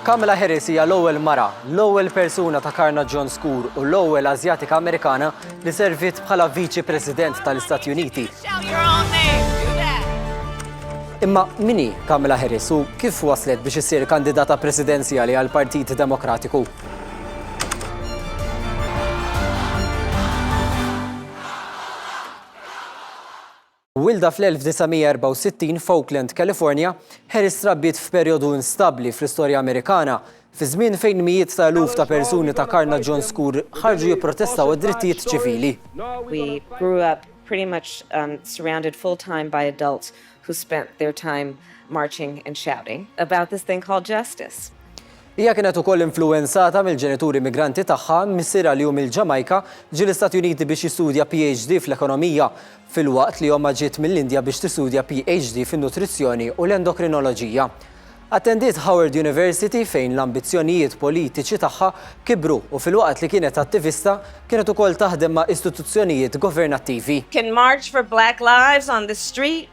Kamala Harris hija l-ewwel mara, l-ewwel persuna ta' karnaġġjon skur u l-ewwel Asjatika Amerikana li serviet bħala Viċi President tal-Istati Uniti. Imma min hi Kamala Harris u kif waslet biex issir kandidata presidenzjali għall-Partit Demokratiku? Mwielda fl-1964 f'Oakland, California, Harris trabbiet f'perjodu instabbli fl-istorja Amerikana, fi żmien fejn mijiet ta' eluf ta' persuni ta' karnaġġon skur ħarġu jipprotestaw għad-drittijiet ċivili. We grew up pretty much surrounded full time by adults who spent their time marching and shouting about this thing called justice. Hija kienet ukoll influwenzata mill-ġenituri immigranti tagħha, missierha li hu mill-Ġamajka ġie l-Istati Uniti biex jistudja PhD fl-ekonomija, filwaqt li ommha ġiet mill-Indja biex tistudja PhD fin-nutrizzjoni u l-endokrinoloġija. Attendiet Howard University fejn l-ambizzjonijiet politiċi tagħha kibru u filwaqt li kienet attivista, kienet ukoll taħdem ma' istituzzjonijiet governattivi. Can march for black lives on the street.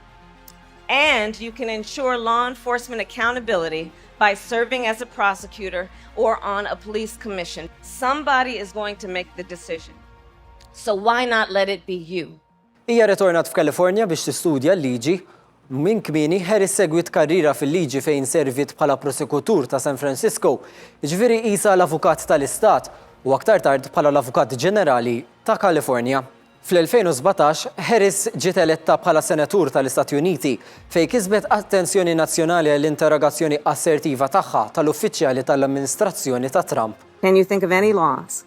and you can ensure law enforcement accountability by serving as a prosecutor or on a police commission. Somebody is going to make the decision. So why not let it be you? Hija retornat f'Kalifornja biex tistudja l-liġi Minn kmini, Harris segwit karriera fil-liġi fejn servit bħala prosekutur ta' San Francisco, ġviri isa l-avukat tal-istat u aktar tard bħala l-avukat ġenerali ta' Kalifornja. Fl-2017, Harris ġiet eletta bħala Senatur tal-Istati Uniti, fejn kisbet attenzjoni nazzjonali għall-interrogazzjoni assertiva tagħha tal-uffiċjali tal-amministrazzjoni ta' Trump. Can you think of any laws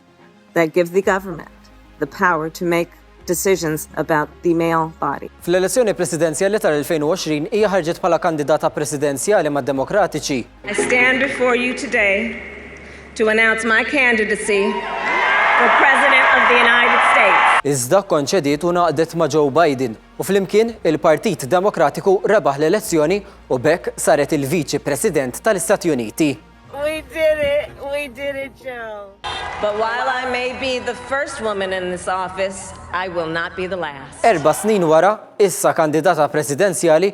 that give the government the power to make decisions about the male body? Fl-elezzjoni presidenzjali tal-2020, hija ħarġet bħala kandidata presidenzjali mad-Demokratiċi. I stand before you today to announce my candidacy for President of the United States. Iżda kkonċediet u ngħaqdet ma' Joe Biden u flimkien il-Partit Demokratiku rebaħ l-elezzjoni u b'hekk saret il-Viċi President tal-Istati Uniti. We did it! We did it, Joe! But while I may be the first woman in this office, I will not be the last. Erba' snin wara, issa kandidata presidenzjali